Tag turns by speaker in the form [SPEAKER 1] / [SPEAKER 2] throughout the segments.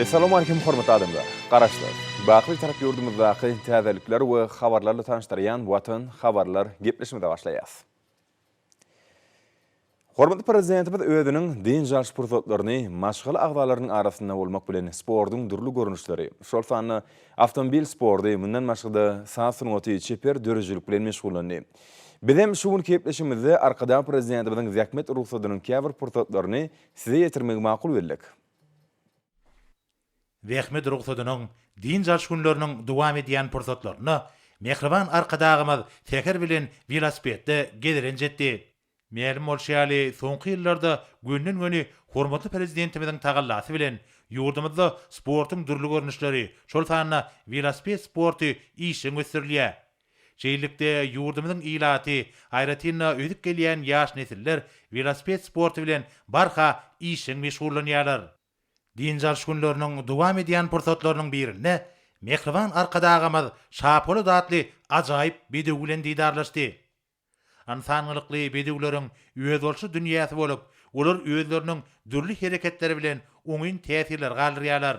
[SPEAKER 1] Essalamu Aleýkum hormatly adamlar! Garaşsyz, Baky-Bitarap ýurdumyzdaky täzelikler we habarlar bilen tanyşdyrýan Watan habarlar gepleşigimize başlaýas. Hormatly Prezidentimiz özüniň dynç alyş pursatlaryny maşgala agzalarynyň arasynda bolmak bilen sportuň dürli görnüşleri, şol sanda awtomobil sporty, mundan başga-da saz sungaty, çeper döredijilik bilen meşgullandy. Bizem şu günki gepleşigimizde Arkadag Prezidentimiziň zähmet rugsadynyň käbir pursatlaryny Size ýetirmegi makul bildik. Zähmet rugsadynyň dynç alyş günleriniň dowam edýän pursatlarynda mähriban Arkadagymyz Säher bilen welosipedde gezelenç etdi. Mälim bolşy ýaly, soňky ýyllarda gönden-göni hormatly Prezidentimiziň tagallasy bilen, ýurdumyzda sportuň dürli görnüşleri, şol sanda welosiped sporty işjeň ösdürilýär. Şeýlelikde, ýurdumyzyň ilaty, aýratyn-da, ösüp gelýän ýaş nesiller welosiped sporty bilen barha işjeň meşgullanýarlar. Dynç alyş günleriniň dowam edýän pursatlarynyň birinde mähriban Arkadagymyz Şapolat atly ajaýyp bedew bilen didarlaşdy. Ynsan gylykly bedewleriň özboluşly dünýäsi bolup, olar özleriniň dürli hereketleri bilen oňyn täsirler galdyrýarlar.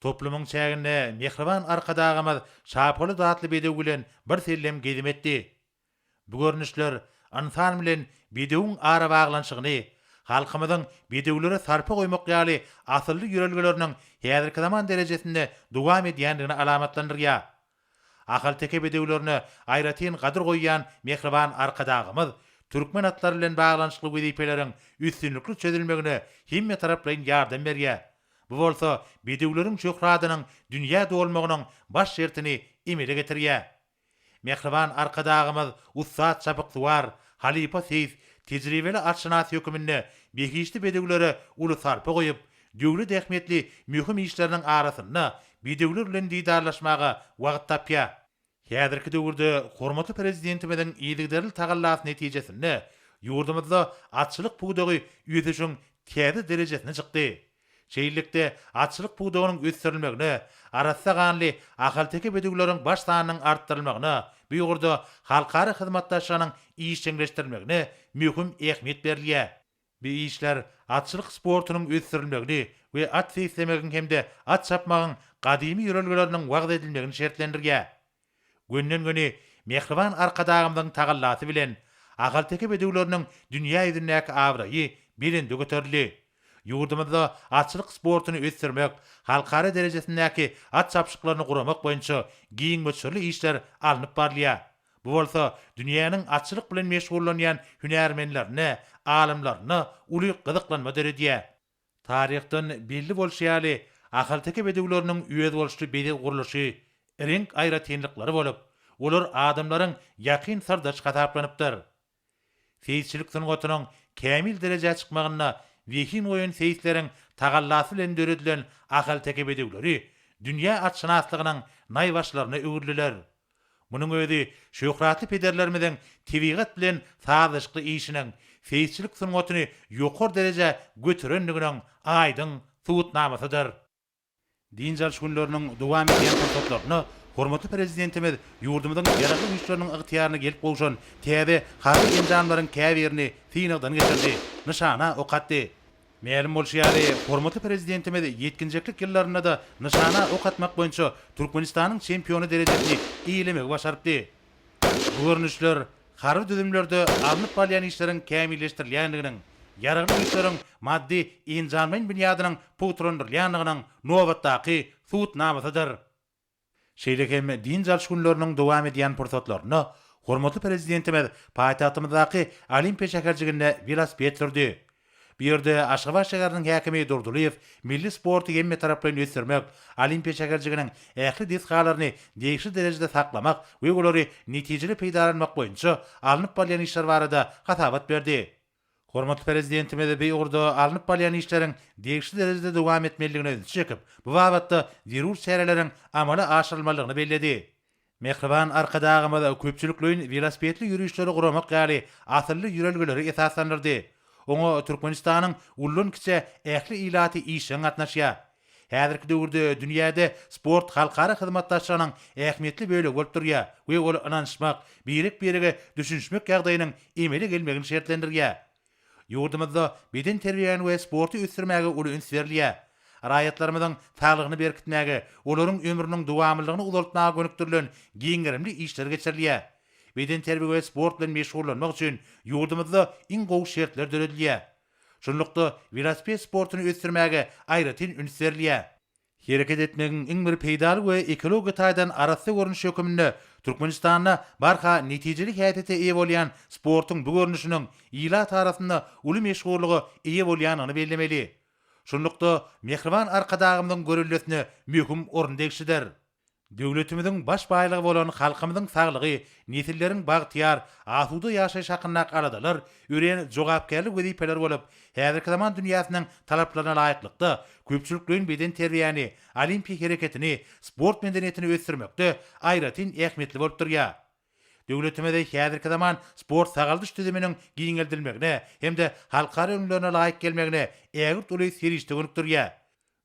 [SPEAKER 1] Toplumyň çäginde mähriban Arkadagymyz Şapolat atly bedew bilen birsellem gezim etdi. Bu görnüşler ynsan bilen bedewiň arabaglanyşygyny, halkymyzyň bedewlere sarpa goýmak ýaly asylly ýörelgeleriniň häzirki zaman derejesinde dowam edýändigini alamatlandyrýar. Ahalteke bedewlerine aýratyn gadyr goýýan mähriban Arkadagymyz türkmen atlary bilen baglanyşykly wezipeleriň üstünlikli çözülmegine hemmetaraplaýyn ýardam berýär, bu bolsa bedewleriň şöhratynyň dünýä dolmagynyň baş şertini emele getirýär. Mähriban Arkadagymyz ussat çapyksuwar, halypa seýis, tejribeli atşynas höküminde behişdi bedewlere uly sarpa goýup, döwlet ähmiýetli möhüm işleriniň arasynda bedewler bilen didarlaşmaga wagt tapýar. Häzirki döwürde hormatly Prezidentimiziň yzygiderli tagallasy netijesinde ýurdumyzda atçylyk pudagy ösüşiň täze derejesine çykdy. Şeýlelikde, atçylyk pudagynyň ösdürilmegine, arassa ganly ahalteke bedewleriň baş sanynyň artdyrylmagyna, bu ugurda halkara hyzmatdaşlygynyň işjeňleşdirilmegine möhüm ähmiýet berilýär. Bu işler atçylyk sportunyň ösdürilmegini we at seýislemegiň hem-de at çapmagyň gadymy ýörelgeleriniň wagyz edilmegini şertlendirýär. Gönden-göni mähriban Arkadagymyzyň tagallasy bilen, ahalteke bedewleriniň dünýä ýüzündäki abraýy belende göterildi. Ýurdumyzda atçylyk sportuny ösdürmek, halkara derejesindäki at çapyşyklaryny guramak boýunça giň möçberli işler alnyp barylýar. Bu bolsa dünýäniň atçylyk bilen meşgullanýan hünärmenlerine, alymlaryna uly gyzyklanma döredýär. Taryhdan belli bolşy ýaly, ahalteke bedewleriniň özboluşly bezeg gurluşy, reňk aýratynlyklary bolup, olar adamlaryň ýakyn syrdaşy hasaplanypdyr. Seýisçilik sungatynyň kämil derejä çykmagynda zehin goýan seýisleriň tagallasy bilen döredilen ahalteke bedewleri dünýä atşynaslygynyň naýbaşylaryna öwrüliler. Munuň özi şöhratly pederlerimiziň tebigat bilen sazlaşykly işiniň seýisçilik sungatyny ýokary derejä göterendiginiň aýdyň subutnamasydyr. Dynç alyş günleriniň dowam edýän pursatlarynda hormatly Prezidentimiz ýurdumyzyň Ýaragly Güýçleriniň ygtyýaryna gelip gowşan täze harby enjamlaryň käbirini synagdan geçirdi, nyşana ok atdy. Mälim bolşy ýaly, hormatly Prezidentimiz ýetginjeklik ýyllarynda-da nyşana ok atmak boýunça Türkmenistanyň çempiony derejesini eýelemegi başarypdy. Bu görnüşler harby düzümlerde alnyp barylýan işleriň kämilleşdirilýändiginiň, Ýaragly Güýçleriň maddy-enjamlaýyn binýadynyň pugtalandyrylýandygynyň nobatdaky subutnamasydyr. Şeýle hem dynç alyş günleriniň dowam edýän pursatlarynda hormatly Prezidentimiz paýtagtymyzdaky Olimpiýa şäherjiginde welosiped sürdi. Bu ýerde Aşgabat şäheriniň häkimi Durdylyýew milli sporty hemmetaraplaýyn ösdürmek, Olimpiýa şäherjiginiň ähli desgalaryny degişli derejede saklamak we olary netijeli peýdalanmak boýunça alnyp barylýan işler barada hasabat berdi. Hormatly Prezidentimiz bu ugurda alnyp barylýan işleriň degişli derejede dowam etmelidigine ünsi çekip, bu babatda zerur çäreleriň amala aşyrylmalydygyny belledi. Mähriban Arkadagymyz köpçülikleýin welosipedli ýörişleri guramak ýaly asylly ýörelgeleri esaslandyrdy. Oňa Türkmenistanyň ullan-kiçä ähli ilaty işjeň gatnaşýar. Häzirki döwürde dünýäde sport halkara hyzmatdaşlygynyň ähmiýetli bölegi bolup durýar we ol ynanyşmak, birek-birege düşünişmek ýagdaýynyň emele gelmegini şertlendirýär. Ýurdumyzda bedenterbiýäni we sporty ösdürmäge uly üns berilýär. Raýatlarymyzyň saglygyny berkitmäge, olaryň ömrüniň dowamlylygyny uzaltmaga gönükdirilen giň gerimli işler geçirilýär. Bedenterbiýe we sport bilen meşgullanmak üçin ýurdumyzda iň gowy şertler döredilýär. Şunlukda, welosiped sportuny ösdürmäge aýratyn üns berilýär. Hereket etmegiň iň bir peýdaly we ekologiýa taýdan arassa görnüşi hökmünde Türkmenistanda barha netijeli häsiýete eýe bolýan sportuň bu görnüşiniň ilat arasynda uly meşhurlyga eýe bolýandygyny bellemeli. Şunlukda, mähriban Arkadagymyzyň göreldesine möhüm orun degişlidir. Döwletimiziň baş baýlygy bolan halkymyzyň saglygy, nesilleriň bagtyýar, asuda ýaşaýşy hakyndaky aladalar örän jogapkärli wezipeler bolup, häzirki zaman dünýäsiniň talaplaryna laýyklykda, köpçülikleýin bedenterbiýäni, olimpiýa hereketini, sport medeniýetini ösdürmekde aýratyn ähmiýetli bolup durýar. Döwletimizi häzirki zaman sport-sagaldyş düzüminiň giňeldilmegine hem-de halkara ülňülerine laýyk gelmegine ägirt uly serişde gönükdirýär.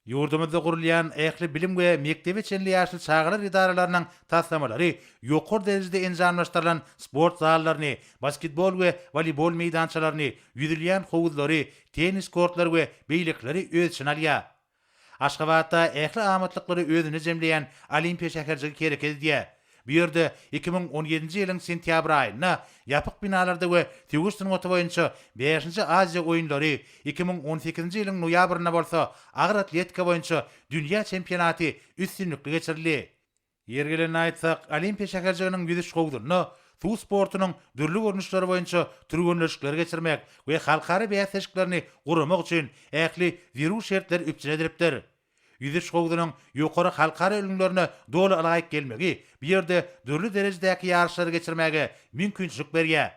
[SPEAKER 1] Ýurdumyzda gurulýan ähli bilim we mekdebe çenli ýaşly çagalar edaralarynyň taslamalary ýokary derejede enjamlaşdyrylan sport zallaryny, basketbol we woleýbol meýdançalaryny, ýüzülýän howuzlary, tennis kortlary we beýlekileri öz içine alýar. Aşgabatda ähli amatlyklary özünde jemleýän Olimpiýa şäherjigi hereket edýär. Bu ýerde iki müň on ýedinji ýylyň sentýabr aýynda ýapyk binalarda we söweş sungaty boýunça bäşinji Aziýa oýunlary, iki müň on sekizinji ýylyň noýabrynda bolsa agyr atletika boýunça dünýä çempionaty üstünlikli geçirildi. Ýeri gelende aýtsak, Olimpiýa şäherjiginiň ýüzüş howzunda suw sportunyň dürli görnüşleri boýunça türgenleşikleri geçirmek we halkara bäsleşiklerini guramak üçin ähli zerur şertler üpjün edilipdir. Ýüzüş howzunyň ýokary halkara ülňülerine doly ylaýyk gelmegi bu ýerde dürli derejedäki ýaryşlary geçirmäge mümkinçilik berýär.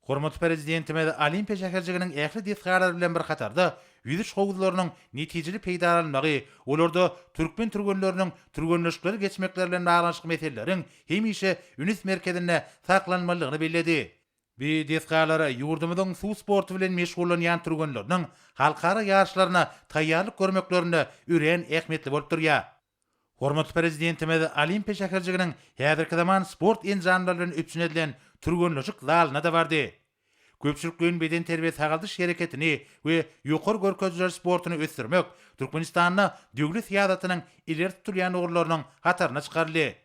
[SPEAKER 1] Hormatly Prezidentimiz Olimpiýa şäherjiginiň ähli desgalary bilen bir hatarda ýüzüş howuzlarynyň netijeli peýdalanylmagy, olarda türkmen türgenleriniň türgenleşikleri geçmekleri bilen baglanyşykly meseleleriň hemişe ünüs merkezinde saklanylmalydygyny belledi. Bu desgalar ýurdumyzyň suw sporty bilen meşgullanýan türgenleriniň halkara ýaryşlaryna taýýarlyk görmeklerinde örän ähmiýetli bolup durýar. Hormatly Prezidentimiz Olimpiýa şäherjiginiň häzirki zaman sport enjamlary bilen üpjün edilen türgenleşik zalyna-da bardy. Köpçülikleýin bedenterbiýe-sagaldyş hereketini we ýokary görkezijiler sportuny ösdürmek Türkmenistanda döwlet syýasatynyň ileri tutulýan ugurlarynyň hataryna çykaryldy.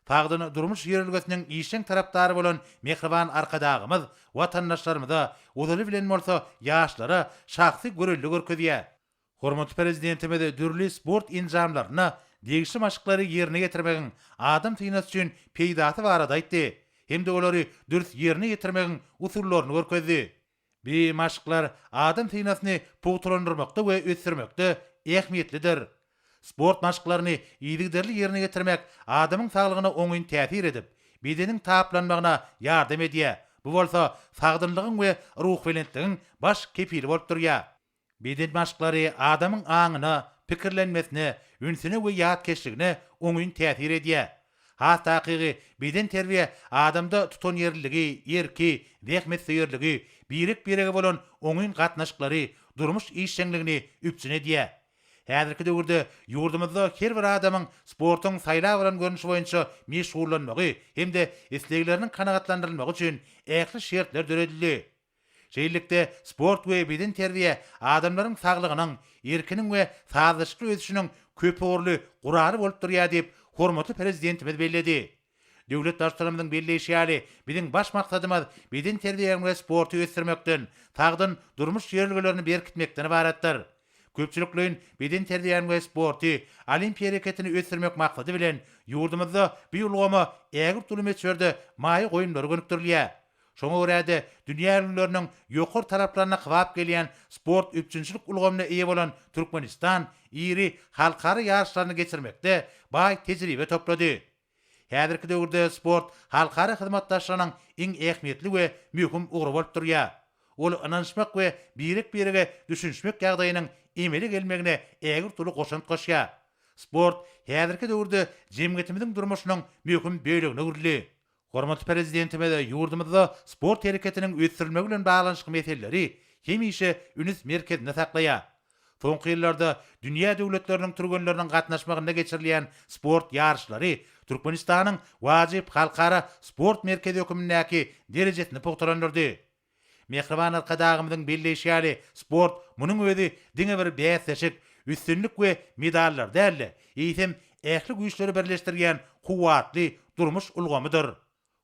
[SPEAKER 1] Sagdyn durmuş ýörelgesiniň işjeň tarapdary bolan mähriban Arkadagymyz watandaşlarymyza, ozaly bilen bolsa ýaşlara şahsy görelde görkezýär. Hormatly Prezidentimiz dürli sport enjamlarynda degişli maşklary ýerine ýetirmegiň adam synasy üçin peýdasy barada aýtdy hem-de olary dürs ýerine ýetirmegiň usullaryny görkezdi. Bu maşklar adam synasyny pugtalandyrmakda we ösdürmekde ähmiýetlidir. Sport maşklaryny yzygiderli ýerine ýetirmek adamyň saglygyna oňyn täsir edip, bedeniň taplanmagyna ýardam edýär, bu bolsa sagdynlygyň we ruhubelentligiň baş kepili bolup durýar. Beden maşklary adamyň aňyna, pikirlenmesine, ünsüne we ýatkeşligine oňyn täsir edýär. Has takygy, bedenterbiýe adamda tutanýerliligi, erki, zähmetsöýerligi, birek-birege bolan oňyn gatnaşyklary, durmuş işjeňligini üpjün edýär. Häzirki döwürde ýurdumyzda her bir adamyň sportuň saýlap alan görnüşi boýunça meşgullanmagy hem-de islegleriniň kanagatlandyrylmagy üçin ähli şertler döredildi. Şeýlelikde, sport we bedenterbiýe adamlaryň saglygynyň, erkiniň we sazlaşykly ösüşiniň köpugurly guraly bolup durýar diýip, hormatly Prezidentimiz belledi. Döwlet Baştutanymyzyň belleýşi ýaly, biziň baş maksadymyz bedenterbiýäň we sporty ösdürmekden, sagdyn durmuş ýörelgelerini berkitmekden ybaratdyr. Köpçülikleýin bedenterbiýäni we sporty, olimpiýa hereketini ösdürmek maksady bilen, ýurdumyzda bu ulgama ägirt uly möçberde maýa goýumlary gönükdirilýär. Şoňa görä-de, dünýä ülňüleriniň ýokary talaplaryna kybap gelýän sport üpjünçilik ulgamyna eýe bolan Türkmenistan iri halkara ýaryşlaryny geçirmekde baý tejribe toplady. Häzirki döwürde sport halkara hyzmatdaşlygynyň iň ähmiýetli we möhüm ugry bolup durýar. Ol ynanyşmak we birek-birege düşünişmek ýagdaýynyň emele gelmegine ägirt uly goşant goşýar. Sport häzirki döwürde jemgyýetimiziň durmuşynyň möhüm bölegine öwrüldi. Hormatly Prezidentimiz ýurdumyzda sport hereketiniň ösdürilmegi bilen baglanyşykly meseleleri hemişe üns merkezinde saklaýar. Soňky ýyllarda dünýä döwletleriniň türgenleriniň gatnaşmagynda geçirilýän sport ýaryşlary Türkmenistanyň wajyp halkara sport merkezi hökümindäki derejesini pugtalandyrdy. Mähriban Arkadagymyzyň belleýşi ýaly, sport, munuň özi diňe bir bäsleşik, üstünlik we medallar däl-de, eýsem, ähli güýçleri birleşdirýän kuwwatly durmuş ulgamydyr.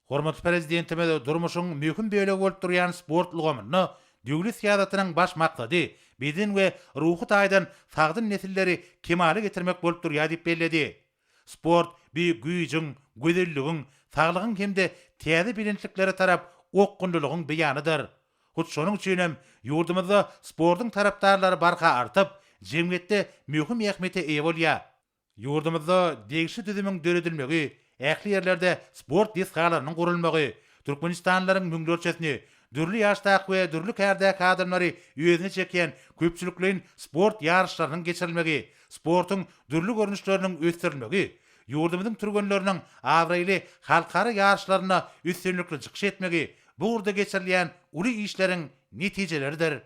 [SPEAKER 1] Hormatly Prezidentimiz durmuşyň möhüm bölegi bolup durýan sport ulgamynda döwlet syýasatynyň baş maksady beden we ruhy taýdan sagdyn nesilleri kemala getirmek bolup durýar diýip belledi. Sport beýik güýjüň, gözelligiň, saglygyň hem-de täze belentliklere tarap okgunlylygyň beýanydyr. Hut şonuň üçin hem ýurdumyzda sportuň tarapdarlary barha artyp, jemgyýetde möhüm ähmiýete eýe bolýar. Ýurdumyzda degişli düzümiň döredilmegi, ähli ýerlerde sport desgalarynyň gurulmagy, türkmenistanlylaryň müňlerçesini, dürli ýaşdaky we dürli kärdäki adamlary özüne çekýän köpçülikleýin sport ýaryşlarynyň geçirilmegi Sportuň dürli görnüşleriniň ösdürilmegi ýurdumyzyň türgenleriniň abraýly halkara ýaryşlarynda üstünlikli çykyş etmegi bu ugurda geçirilýän uly işleriň netijeleridir.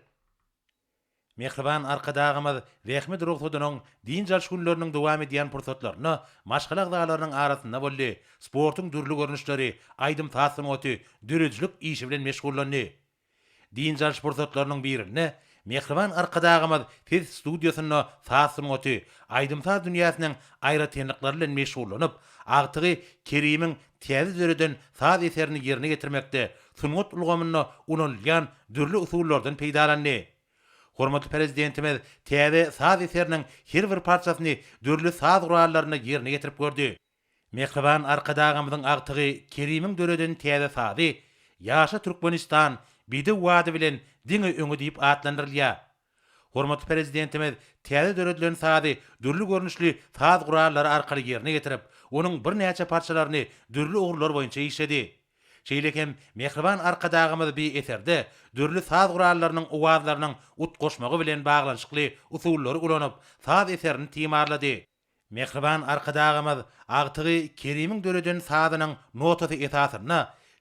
[SPEAKER 1] Mähriban Arkadagymyz zähmet rugsadynyň dynç alyş günleriniň dowam edýän pursatlarynda maşgala agzalarynyň arasynda boldy, sportuň dürli görnüşleri, aýdym-saz sungaty, döredijilik işi bilen meşgullandy. Dynç alyş pursatlarynyň birinde mähriban Arkadagymyz ses studiýasynda saz sungaty, aýdym-saz dünýäsiniň aýratynlyklary bilen meşgullanyp, agtygy Kerimiň täze döreden saz eserini ýerine ýetirmekde sungat ulgamynda ulanylýan dürli usullardan peýdalandy. Hormatly Prezidentimiz täze saz eseriniň her bir parçasyny dürli saz gurallarynda ýerine ýetirip gördi. Mähriban Arkadagymyzyň agtygy Kerimiň döreden täze sazy Ýaşa Türkmenistan, Bedew wady bilen diňe öňe diýip atlandyrylýar. Hormatly Prezidentimiz täze döredilen sazy dürli görnüşli saz gurallary arkaly ýerine ýetirip, onuň birnäçe parçalaryny dürli ugurlar boýunça işledi. Şeýle hem Mähriban Arkadagymyz bi eserde dürli saz gurallarynyň owazlarynyň utgaşmagy bilen baglanyşykly usullary ulanyp, saz eserini timarlady. Mähriban Arkadagymyz agtygy Kerimiň döreden sazynyň notasy esasynda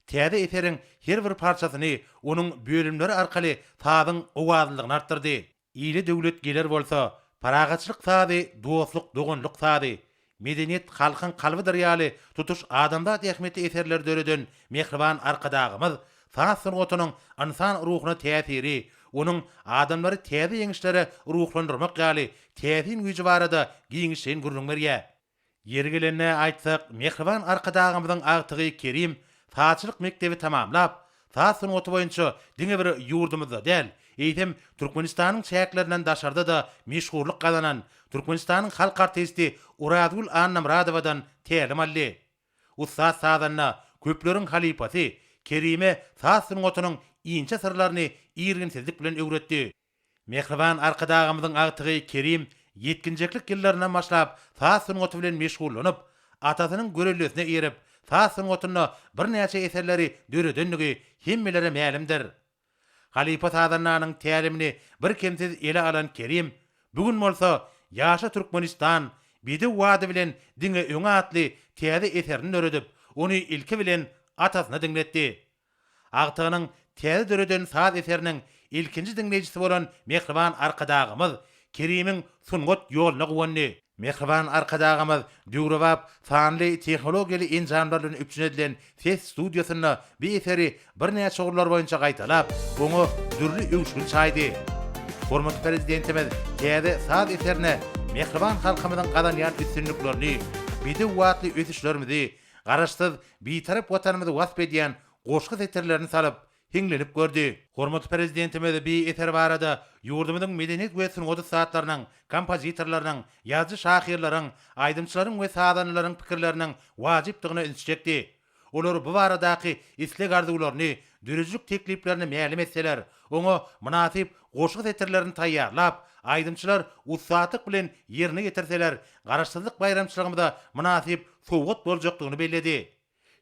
[SPEAKER 1] täze eseriň her bir parçasyny onuň bölümleri arkaly sazyň owazlylygyny artdyrdy. Ile döwlet geler bolsa, Parahatçylyk sazy dostluk, doganlyk sazy, Medeniýet halkyň kalbydyr ýaly tutuş adamzat ähmiýetli eserleri döreden Mähriban Arkadagymyz Saz sungatynyň ynsan ruhuna täsiri, onuň adamlary täze ýeňişlere ruhlandyrmak ýaly täsin güýji barada giňişleýin gürrüň berýär. Ýeri gelende aýtsak, mähriban Arkadagymyzyň agtygy Kerim sazçylyk mekdebi tamamlap, saz sungaty boýunça diňe bir ýurdumyzda däl, eýsem, Türkmenistanyň çäklerinden daşarda-da meşhurlyk gazanan, Türkmenistanyň halk artisti Orazgül Annamyradowadan tälim aldy. Ussat sazanda, köpleriň halypasy Kerime saz sungatynyň inçe syrlaryny irginsizlik bilen öwretdi. Mähriban Arkadagymyzyň agtygy Kerim ýetginjeklik ýyllaryndan başlap saz sungaty bilen meşgullanyp, atasynyň görellesine eýerip, saz sungatynda birnäçe eserleri döredendigi hemmelere mälimdir. Halypa sazandanyň tälimini birkemsiz ele alan Kerim, bu gün bolsa Ýaşa Türkmenistan, Bedew bady bilen diňe öňe atly täze eserini döredip, ony ilki bilen atasyna diňletdi. Agtygynyň täze döreden saz eseriniň ilkinji diňleýjisi bolan mähriban Arkadagymyz Kerimiň sungat ýoluna guwandy. Mähriban Arkadagymyz döwrebap sanly tehnologiýaly enjamlar bilen üpjün edilen ses studiýasynda bu eseri birnäçe ugurlar boýunça gaýtalap, oňa dürli öwüşgin çaýdy. Hormatly Prezidentimiz täze saz eserine mähriban halkymyzyň gazanýan üstünliklerini, bedew batly ösüşlerimizi, Garaşsyz, Bitarap Watanymyzy wasp edýän goşgy setirlerini salyp, hiňlenip gördi. Hormatly Prezidentimiz bi eser barada ýurdumyzyň medeniýet we sungat ussatlarynyň, kompozitorlarynyň, ýazyjy-şahyrlaryň, aýdymçylaryň we sazandalaryň pikirleriniň wajypdygyna ünsi çekdi. Olar bu baradaky isleg-arzuwlaryny, döredijilik tekliplerini mälim etseler, oňa mynasyp goşgy setirlerini taýýarlap, aýdymçylar ussatlyk bilen ýerine ýetirseler, Garaşsyzlyk baýramçylygymyza mynasyp sowgat boljakdygyny belledi.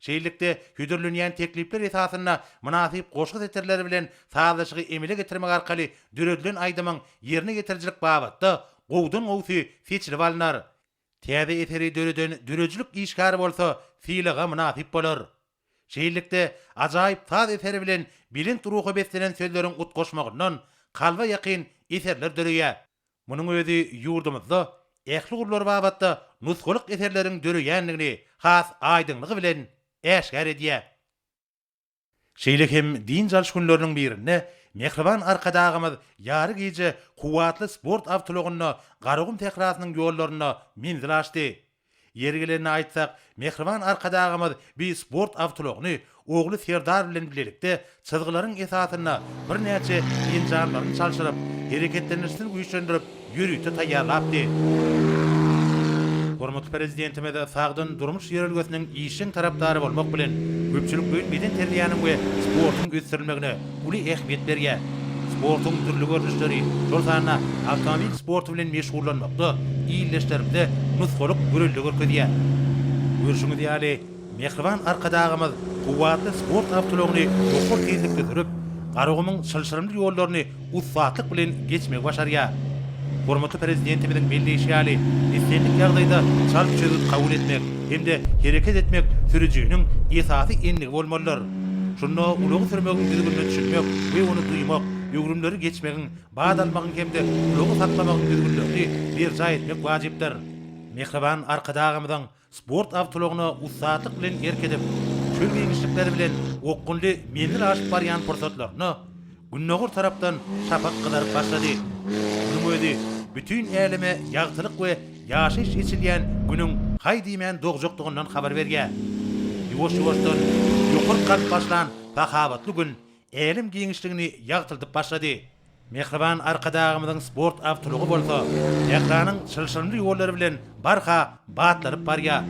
[SPEAKER 1] Şeýlelikde, hödürlenýän teklipler esasynda mynasyp goşgy setirleri bilen sazlaşygy emele getirmek arkaly döredilen aýdymyň ýerine ýetirijilik babatda gowudan gowusy seçilip alnar. Täze eseri döreden döredijilik işgäri bolsa sylaga mynasyp bolar. Şeýlelikde, ajaýyp saz eseri bilen belent ruha beslenen sözleriň utgaşmagyndan kalba ýakyn eserler döreýär. Munuň özi ýurdumyzda ähli ugurlar babatda nusgalyk eserleriň döreýändigini has aýdyňlygy bilen äşgär edýär. Şeýle hem dynç alyş günleriniň birinde mähriban Arkadagymyz ýary gije kuwwatly sport awtoulagynda Garagum sährasynyň ýollarynda menzil aşdy. Ýeri gelende aýtsak, mähriban Arkadagymyz bi sport awtoulagyny ogly Serdar bilen bilelikde çyzgylaryň esasynda birnäçe enjamlaryny çalşyryp, hereketlendirişini güýçlendirip, ýörite taýýarlapdy. Hormatly Prezidentimiz sagdyn durmuş ýörelgesiniň işjeň tarapdary bolmak bilen, köpçülikleýin bedenterbiýäniň we sportuň ösdürilmegine, uly ähmiýet berýär. Sportuň dürli görnüşleri, şol sanda awtomobil sporty bilen meşgullanmakda ildeşlerimize nusgalyk görelde görkezýär. Görşüňiz ýaly, mähriban Arkadagymyz kuwwatly sport awtoulagyny ýokary tizlikde sürüp, Garagumuň çylşyrymly ýollaryny ussatlyk bilen geçmegi başarýar. Hormatly Prezidentimiziň belleýşi ýaly, islendik ýagdaýda çalt çözgüt kabul etmek hem-de hereket etmek sürüjiniň esasy endigi bolmalydyr. Şunda ulagy sürmegiň düzgünine düşünmek we ony duýmak, öwrümleri geçmegiň, bat almagyň hem-de ulagy saklamagyň düzgünlerini berjaý etmek wajypdyr. Mähriban Arkadagymyzyň sport awtoulagyna ussatlyk bilen erk edip, çöl giňişlikleri bilen okgunly menzil aşyp barýan pursatlaryna, Gündogar tarapdan şapak gyzaryp başlady. Munuň özi bütin äleme ýagtylyk we ýaşaýyş eçilýän Günüň haý diýmän dogjakdygyndan habar berýär. Ýuwaş-ýuwaşdan ýokaryk galyp başlan sahawatly Gün älem giňişligini ýagtyldyp başlady. Mähriban Arkadagymyzyň sport awtoulagy bolsa Tähranyň çylşyrymly ýollary bilen Barha batlaryp barýar.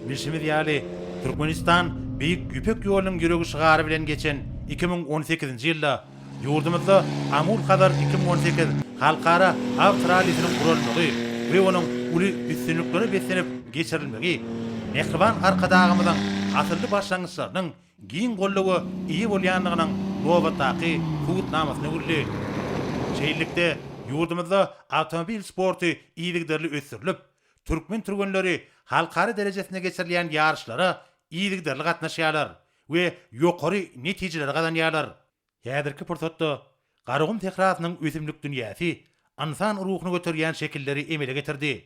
[SPEAKER 1] Bilşimiz ýaly, Türkmenistan Beýik Ýüpek ýolunyň ýüregi şygary bilen geçen iki müň on sekizinji ýylda Ýurdumyzda Amur-Hazar iki müň on sekiz halkara awtorallisiniň guralmagy we onuň uly üstünliklere beslenip geçirilmegi mähriban Arkadagymyzyň asylly başlangyçlarynyň giň goldawa eýe bolýandygynyň nobatdaky subutnamasyna öwrüldi. Şeýlelikde, ýurdumyzda awtomobil sporty yzygiderli ösdürilip, türkmen türgenleri halkara derejesinde geçirilýän ýaryşlara yzygiderli gatnaşýarlar, we ýokary netijeleri gazanýarlar. Häzirki pursatda Garagum sährasynyň ösümlik dünýäsi ynsan ruhuny göterýän şekilleri emele getirdi.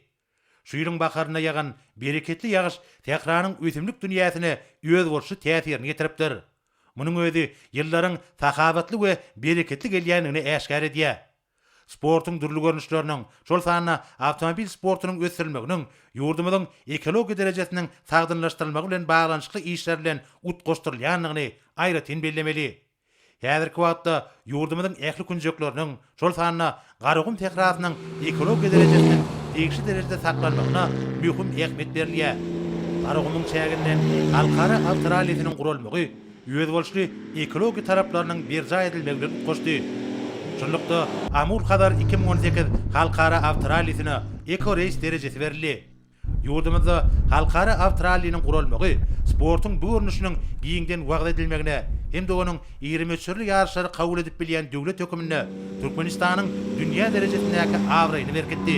[SPEAKER 1] Şu ýylyň baharynda ýagan bereketli ýagyş sähranyň ösümlik dünýäsine özboluşly täsirini getiripdir. Munuň özi ýyllaryň sahawatly we bereketli gelýändigini äşgär edýär. sportuň dürli görnüşleriniň, şol sanda awtomobil sportunyň ösdürilmeginiň ýurdumyzyň ekologiýa derejesiniň sagdynlaşdyrylmagy bilen baglanyşykly işler bilen utgaşdyrylýandygyny aýratyn bellemeli. Häzirki wagtda ýurdumyzyň ähli künjekleriniň, şol sanda Garagum sährasynyň ekologiýa derejesiniň degişli derejede saklanmagyna möhüm ähmiýet berilýär. Garagumuň çäginden halkara awtorallisiniň guralmagy, özboluşly ekologiýa talaplarynyň berjaý edilmegine utgaşdy. Şunlukda, Amur-Hazar iki müň on sekiz halkara awtorallisine Eko-reýs derejesi berildi. Ýurdumyzda halkara awtoralliniň guralmagy sportuň bu görnüşiniň giňden wagyz edilmegine hem-de onuň iri möçberli ýaryşlary kabul edip bilýän döwlet hökmünde Türkmenistanyň dünýä derejesindäki abraýyny berkitdi.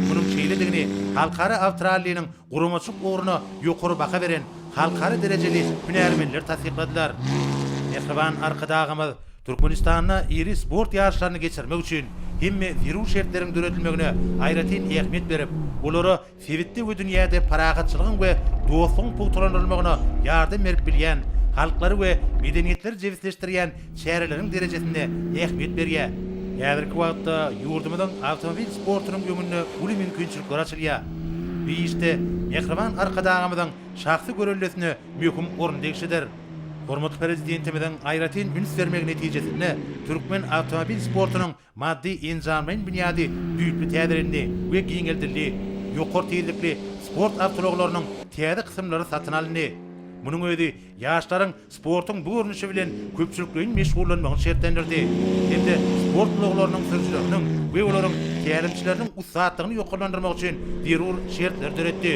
[SPEAKER 1] Munuň şeýledigini halkara awtoralliniň Guramaçylyk ugruna ýokary baha beren halkara derejeli hünärmenleri tassykladylar. Mähriban Arkadagymyz Türkmenistanda iri sport ýaryşlaryny geçirmek üçin hemme zerur şertleriň döredilmegine aýratyn ähmiýet berip, olara sebitde we dünýäde parahatçylygyň we dostlugyň pugtalandyrylmagyna ýardam berip bilýän, halklary we medeniýetleri jebisleşdirýän çäreleriň derejesinde ähmiýet berýär. Häzirki wagtda ýurdumyzyň awtomobil sportunyň öňünde uly mümkinçilikler açylýar. Bu işde Mähriban Arkadagymyzyň şahsy göreldesine möhüm orun degişlidir. Hormatly Prezidentimiziň aýratyn üns bermegi netijesinde türkmen awtomobil sportunyň Maddy-enjamlaýyn binýady düýpli täzelendi we giňeldildi, ýokary tizlikli sport awtoulaglarynyň täze kysymlary satyn alyndy. Munuň özi ýaşlaryň sportuň bu görnüşi bilen köpçülikleýin meşgullanmagyny şertlendirdi hem-de sport ulaglarynyň sürüjileriniň we olaryň tälimçileriniň ussatlygyny ýokarlandyrmak üçin zerur şertleri döretdi.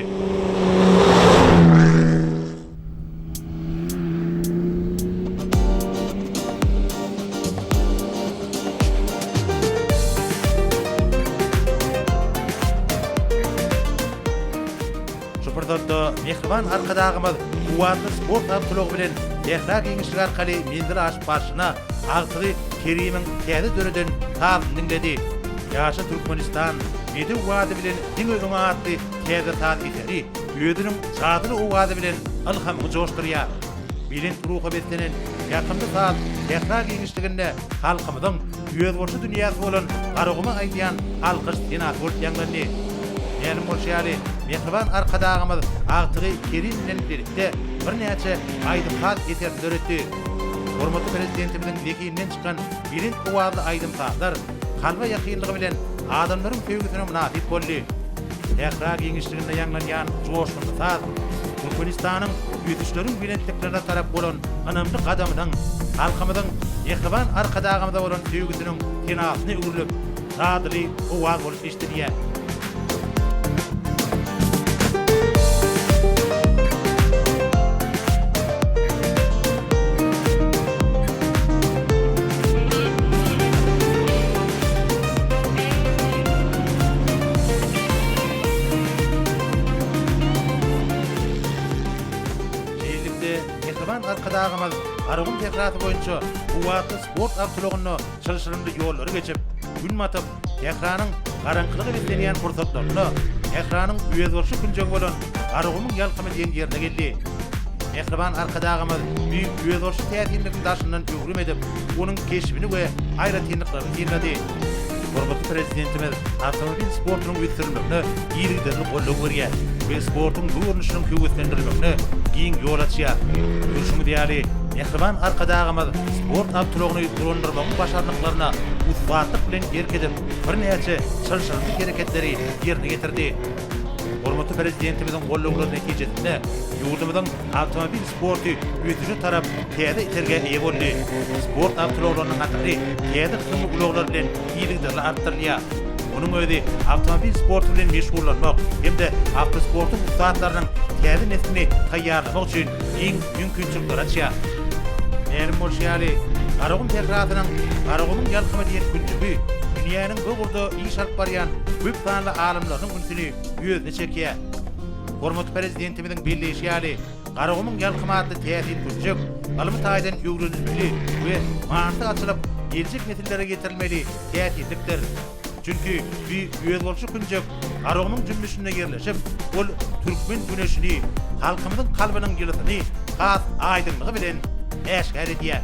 [SPEAKER 1] Şu pursatda mähriban Arkadagymyz kuwwatly sport awtoulagy bilen Sähra giňişligi arkaly menzil aşyp barşyna agtygy Kerimiň täze döreden sazyny diňledi. Ýaşa Türkmenistan, Bedew wady bilen diňe öňe atly täze saz eseri, Özüniň jadyly owazy bilen ylhamyňy joşdurýar. Belent ruha beslenen ýakymly saz sähra giňişliginde halkymyzyň özboluşy dünýäsi bolan Garaguma aýdýan alkyş senasy bolup ýaňlandy. Mälim bolşy ýaly, mähriban Arkadagymyz agtygy Kerim bilen birlikde birnäçe aýdym-saz eserini döretdi. Hormatly Prezidentimiziň zehininden çykan belent owazly aýdym-sazlar kalba ýakynlygy bilen adamlaryň söýgüsine mynasyp boldy. Sähra giňişliginde ýaňlanýan joşgunly saz Türkmenistanyň ösüşleriň belentliklerine tarap bolan ynamly gadamynyň, halkymyzyň mähriban Arkadagymyza bolan söýgüsiniň senasyna öwrülip, dadyly owaz bolup eşidilýär. Şeýlelikde, mähriban Arkadagymyz Garagum sährasy boýunça kuwwatly sport awtoulagynda çylşyrymly ýollary geçip, gün batyp, sähranyň garaňkylygy beslenýän pursatlarynda sähranyň özboluşly künjegi bolan Garagumuň ýalkymy diýen ýerine geldi. Mähriban Arkadagymyz düýp özboluşly täsinligiň daşyndan öwrüm edip, onuň keşbini we aýratynlyklaryny synlady. Hormatly Prezidentimiz awtomobil sportunyň ösdürilmegine yzygiderli goldaw berýär we sportuň bu görnüşiniň höweslendirilmegine giň ýol açýar. Görşüňiz ýaly, mähriban Arkadagymyz sport awtoulagyny dolandyrmagyň başarnyklaryna ussatlyk bilen erk edip, birnäçe çylşyrymly hereketleri ýerine ýetirdi. Hormatly Prezidentimiziň goldawlary netijesinde ýurdumyzyň awtomobil sporty ösüşe tarap täze itergä eýe boldy. Sport awtoulaglarynyň hatyry täze kysymly ulaglar bilen yzygiderli artdyrylýar. Munuň özi awtomobil sporty bilen meşgullanmak hem-de awtosportuň ussatlarynyň täze neslini taýýarlamak üçin giň mümkinçilikleri açýar. Mälim bolşy ýaly, Garagum sährasynyň Garagumyň ýalkymy diýen künjegi dünýäniň bu ugurda iş alyp barýan köp sanly alymlarynyň ünsüni özüne çekýär. Hormatly Prezidentimiziň belleýşi ýaly, Garagumuň ýalkymy atly täsin künjek ylmy taýdan öwrenilmeli we manysy açylyp, geljek nesillere ýetirilmeli täsinlikdir. Çünki bi özboluşy künjek Garagumuň jümmüşinde ýerleşip, ol türkmen güneşini, halkymyzyň kalbynyň ýylysyny has aýdyňlygy bilen äşgär edýär.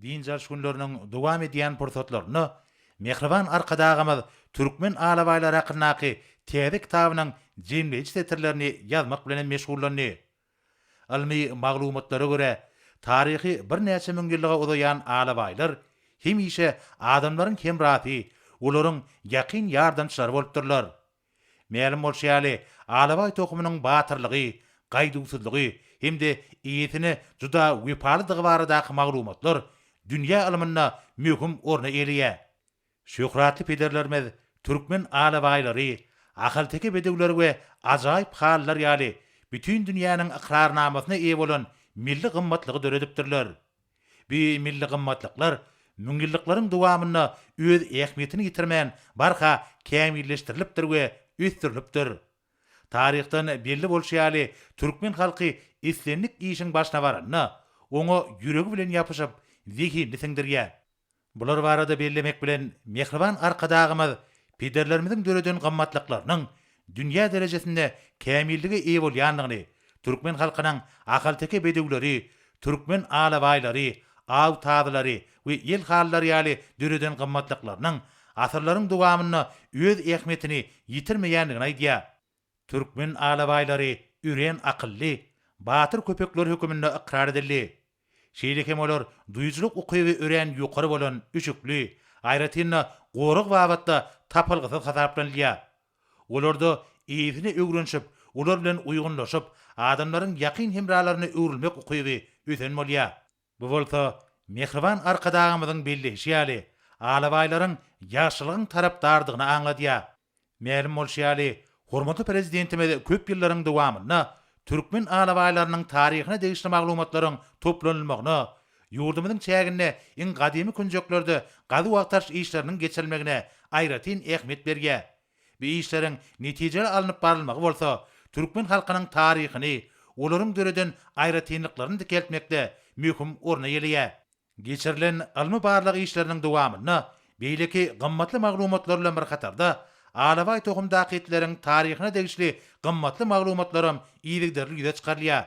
[SPEAKER 1] Dynç alyş günleriniň dowam edýän pursatlarynda mähriban Arkadagymyz türkmen alabaýlary hakyndaky täze kitabynyň jemleýji setirlerini ýazmak bilen hem meşgullandy. Ylmy maglumatlara görä, taryhy birnäçe müňýyllyga uzaýan alabaýlar hemişe adamlaryň hemrasy, olaryň ýakyn ýardamçylary bolupdyrlar. Mälim bolşy ýaly, alabaý tohumynyň batyrlygy, gaýduwsyzlygy hem-de eýesine juda wepalydygy baradaky maglumatlar dünýä ylmynda möhüm orny eýeleýär. Şöhratly pederlerimiz türkmen alabaýlary, ahalteke bedewleri we ajaýyp halylar ýaly bütin dünýäniň ykrarnamasyna eýe bolan milli gymmatlygy döredipdirler. Bu milli gymmatlyklar müňýyllyklaryň dowamynda öz ähmiýetini ýitirmän barha kämilleşdirilipdir we ösdürilipdir. Taryhdan belli bolşy ýaly, türkmen halky islendik işiň başyna baranda, oňa ýüregi bilen ýapyşyp, zehinini siňdirýär. Bular barada bellemek bilen, mähriban Arkadagymyz pederlerimiziň döreden gymmatlyklarynyň dünýä derejesinde kämillige eýe bolýandygyny, türkmen halkynyň ahalteke bedewleri, türkmen alabaýlary, aw tazylary we ýel halylary ýaly döreden gymmatlyklarynyň asyrlaryň dowamynda öz ähmiýetini ýitirmeýändigini aýdýar. Türkmen alabaýlary örän akylly, batyr köpekler höküminde ykrar edildi. Şeýle hem olar duýujylyk ukyby örän ýokary bolan üşükli, aýratyn-da gorag babatda tapylgysyz hasaplanylýar. Olarda eýesine öwrenişip, olar bilen uýgunlaşyp, adamlaryň ýakyn hemralaryna öwrülmek ukyby ösen bolýar. Bu bolsa, mähriban Arkadagymyzyň belleýşi ýaly, alabaýlaryň ýagşylygyň tarapdardygyny aňladýar. Mälim bolşy ýaly, hormatly Prezidentimiz köp ýyllaryň dowamynda türkmen alabaýlarynyň taryhyna degişli maglumatlaryň toplanylmagyna, ýurdumyzyň çäginde iň gadymy künjeklerde gazuw-agtaryş işleriniň geçirilmegine aýratyn ähmiýet berýär. Bu işleriň netijeli alnyp barylmagy bolsa türkmen halkynyň taryhyny, olaryň döreden aýratynlyklaryny dikeltmekde möhüm orun eýeleýär. Geçirilen ylmy-barlag işleriniň dowamynda beýleki gymmatly maglumatlar bilen bir hatarda, alabaý tohumdaky itleriň taryhyna degişli gymmatly maglumatlaram yzygiderli ýüze çykarylýar.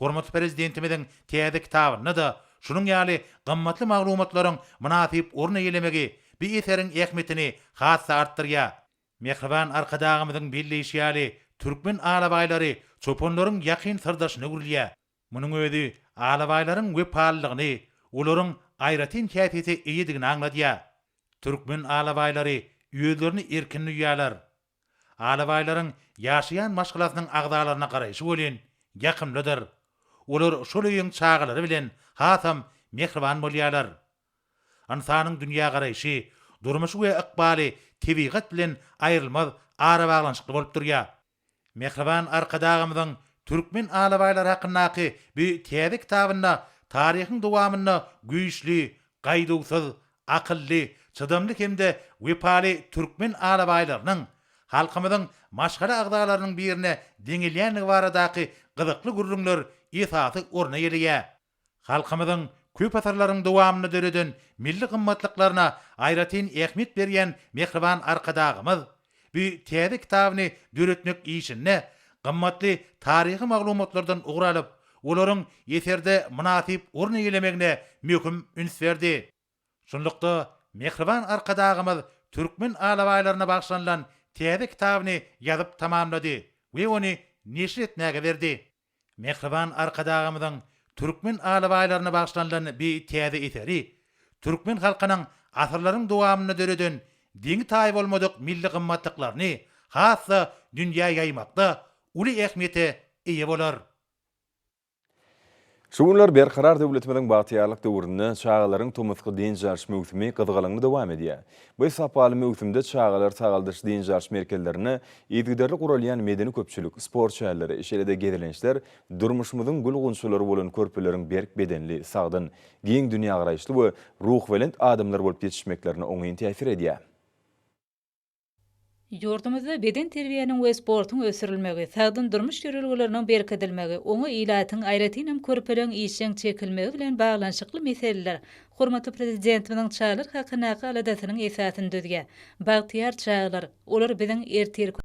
[SPEAKER 1] Hormatly Prezidentimiziň täze kitabynda-da şunuň ýaly gymmatly maglumatlaryň mynasyp orun eýelemegi bu eseriň ähmiýetini has-da artdyrýar. Mähriban Arkadagymyzyň belleýşi ýaly, türkmen alabaýlary çopanlaryň ýakyn syrdaşyna öwrülýär. Munuň özi alabaýlaryň wepalylygyny, olaryň aýratyn häsiýete eýedigini aňladýar. Türkmen alabaýlary özlerini erkin duýýarlar. Alabaýlaryň ýaşaýan maşgalasynyň agzalaryna garaýşy welin, ýakymlydyr. Olar şol öýüň çagalary bilen hasam mähriban bolýarlar. Ynsanyň dünýägaraýşy, durmuşy we ykbaly tebigat bilen aýrylmaz arabaglanyşykly bolup durýar. Mähriban Arkadagymyzyň türkmen alabaýlary hakyndaky bu täze kitabynda taryhyň dowamynda güýçli, gaýduwsyz, akylly, çydamly hem-de wepaly türkmen alabaýlarynyň halkymyzyň maşgala agzalarynyň birine deňelýändigi baradaky gyzykly gürrüňler esasy orun eýeleýär. Halkymyzyň köp asyrlaryň dowamynda döreden milli gymmatlyklaryna aýratyn ähmiýet berýän mähriban Arkadagymyz bu täze kitabyny döretmek işinde gymmatly taryhy maglumatlardan ugur alyp, olaryň eserde mynasyp orun eýelemegine möhüm üns berdi. Şunlukda, mähriban Arkadagymyz türkmen alabaýlaryna bagyşlanylan täze kitabyny ýazyp tamamlady we ony neşir etmäge berdi. Mähriban Arkadagymyzyň türkmen alabaýlaryna bagyşlanylan bi täze eseri türkmen halkynyň asyrlaryň dowamynda döreden deňi-taýy bolmadyk milli gymmatlyklaryny has-da dünýä ýaýmakda uly ähmiýete eýe bolar. Şu günler Berkarar döwletimiziň bagtyýarlyk döwründe çagalaryň tomusky dynç alyş möwsümi gyzgalaňly dowam edýär. Bu sapaly möwsümde çagalar sagaldyş-dynç alyş merkezlerinde yzygiderli guralýan medeni-köpçülik, sport şäherleri, şeýle-de gezelençler durmuşymyzyň gül-gunçalary bolan körpeleriň berk bedenli, sagdyn, giň dünýägaraýyşly we ruhubelent adamlar bolup ýetişmeklerine oňyn täsir edýär. Ýurdumyzda bedenterbiýäniň we sportuň ösdürilmegi, sagdyn durmuş ýörelgeleriniň berkidilmegi, oňa ilatyň, aýratynam, körpeleriň işjeň çekilmegi bilen baglanyşykly meseleler hormatly Prezidentimiziň çagalar hakyndaky aladasynyň esasyny düzýär. Bagtyýar çagalar, olar biziň ertirki.